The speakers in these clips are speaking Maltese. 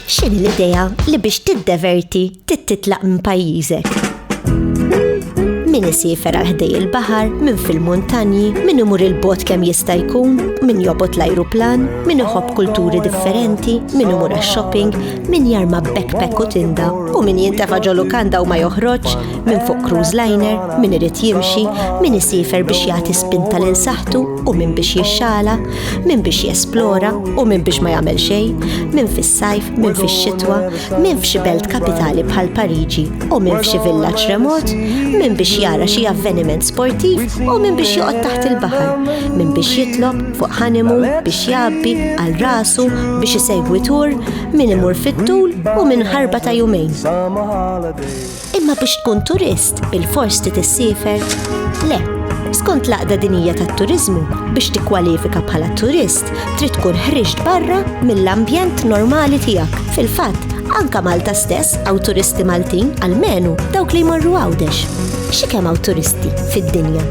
X'in l-idea li biex tiddeverti tittitlaq minn pajjiżek? min isifer għal ħdej il-bahar, min fil-muntanji, min imur il-bot kemm jista' jkun, min jobot l-ajruplan, min iħobb kulturi differenti, min imur għax-shopping, min jarma backpack u tinda, u min jintafa ġolu kanda u ma joħroġ, Min fuq cruise liner, min irid jimxi, min isifer biex jagħti spinta lil saħtu u min biex jixxala, min biex jesplora u min biex ma jagħmel xejn, min fis-sajf, min fix-xitwa, min f'xi belt kapitali bħal Pariġi u min f'xi villaġġ remot, min biex jara xi avveniment sportiv u min biex joqgħod taħt il-baħar, min biex jitlob fuq ħanimu biex jabbi għal rasu biex isegwi tur, min imur fit-tul u min ħarba ta' jumejn. Imma biex tkun turist, bilfors trid issiefer? Le. Skont l-Għaqda Dinija tat-Turiżmu, biex tikkwalifika bħala turist, trid tkun ħriġt barra mill-ambjent normali tiegħek. Fil-fatt, anke Malta stess hawn turisti Maltin, almenu dawk li jmorru Għawdex. Xi kemm hawn turisti fid-dinja?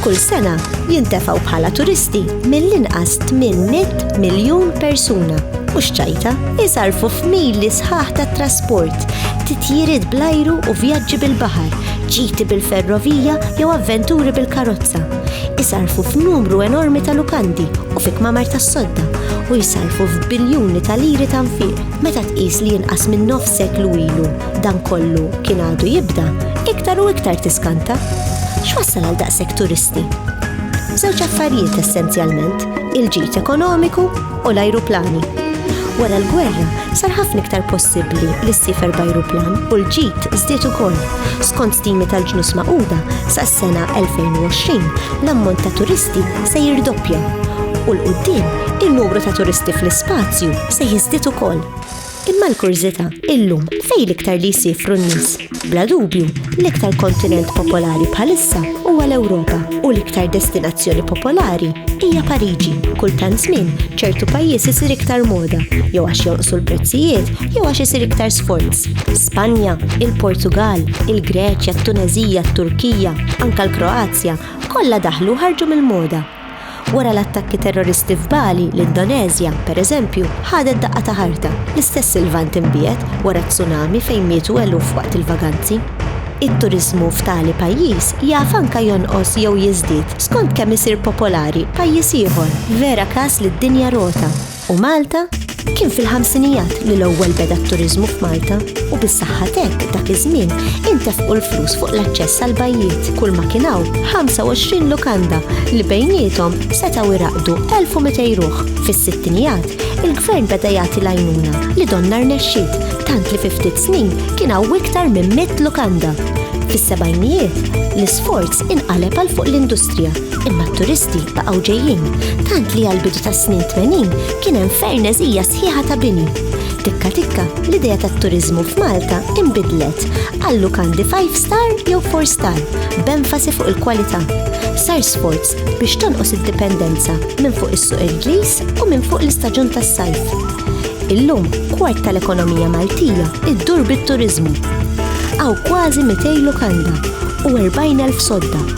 Kull sena jintefgħu bħala turisti mill-inqas 800 miljun persuna u xċajta jisarfu f'mili sħaħ ta' trasport, titjiriet bl-ajru u vjaġġi bil-baħar, ġiti bil-ferrovija jew avventuri bil-karozza. Isarfu f'numru enormi ta' lukandi u fi kmamar tas-sodda u jisarfu f'biljuni ta' liri ta' nfiq meta tqis li jinqas minn nofs seklu ilu dan kollu kien għadu jibda, iktar u iktar tiskanta. X'wassal għal daqshekk turisti? Żewġ affarijiet essenzjalment, il-ġid ekonomiku u l-ajruplani. Wara l-gwerra sar ħafna iktar possibbli li ssifer b'ajruplan u l-ġid żdied ukoll. Skont stimi tal-ġnus maquda sas-sena 2020 l-ammont ta' turisti se jirdoppja u l-qudiem in-numru ta' turisti fl-ispazju se jiżdied ukoll. Imma l-kurżità, illum, fejn l-iktar li jsiefru n-nies? Bla dubju, l-iktar kontinent popolari bħalissa huwa l-Ewropa u l-iktar destinazzjoni popolari hija Pariġi. Kull tant żmien, ċertu pajjiż isir iktar moda, jew għax jonqsu l-prezzijiet, jew għax isir iktar sforz. Spanja, il-Portugall, il-Greċja, t-Tuneżija, t-Turkija, anke l-Kroazja, kollha daħlu u ħarġu mill-moda. Wara l-attakki terroristi f'Bali, l-Indoneżja, pereżempju, ħadet daqqa ta' ħarta, l-istess il-Lvant imbiegħed wara tsunami fejn mietu eluf waqt il-vaganzi. It-turiżmu f'tali pajjiż jaf anke jonqos jew jiżdied skont kemm isir popolari pajjiż ieħor, vera każ li d-dinja rota. u Malta, kien fil-ħamsinijat li l-ewwel beda t-turiżmu f'Malta u bis-saħħa t'hekk dak iż-żmien intefqu l-flus fuq l-aċċess għall-bajjiet kull ma kien hawn 25 lukanda li bejniethom setgħu jraqqdu 1,200 ruħ. Fis-sittinijat, il-Gvern beda jagħti l-għajnuna li donnha rnexxiet tant li fi ftit snin kien hawn iktar minn mitt lukanda. Fis-sebgħinijiet, l-isforz inqaleb għal fuq l-industrija Imma t-turisti baqgħu ġejjin, tant li għall-bidu tas-snin 80 kien hemm ferneżija sħiħa ta' bini. Tikka tikka, l-idea tat-turiżmu f'Malta inbidlet għal lukandi five star jew four star, b'enfasi fuq il-kwalità. Sar sforz biex tonqos id-dipendenza minn fuq is-suq Ingliż u minn fuq l-istaġun tas-sajf. Illum, kwart tal-ekonomija Maltija ddur bit-turiżmu. Hawn kważi 200 lukanda u 40,000 sodda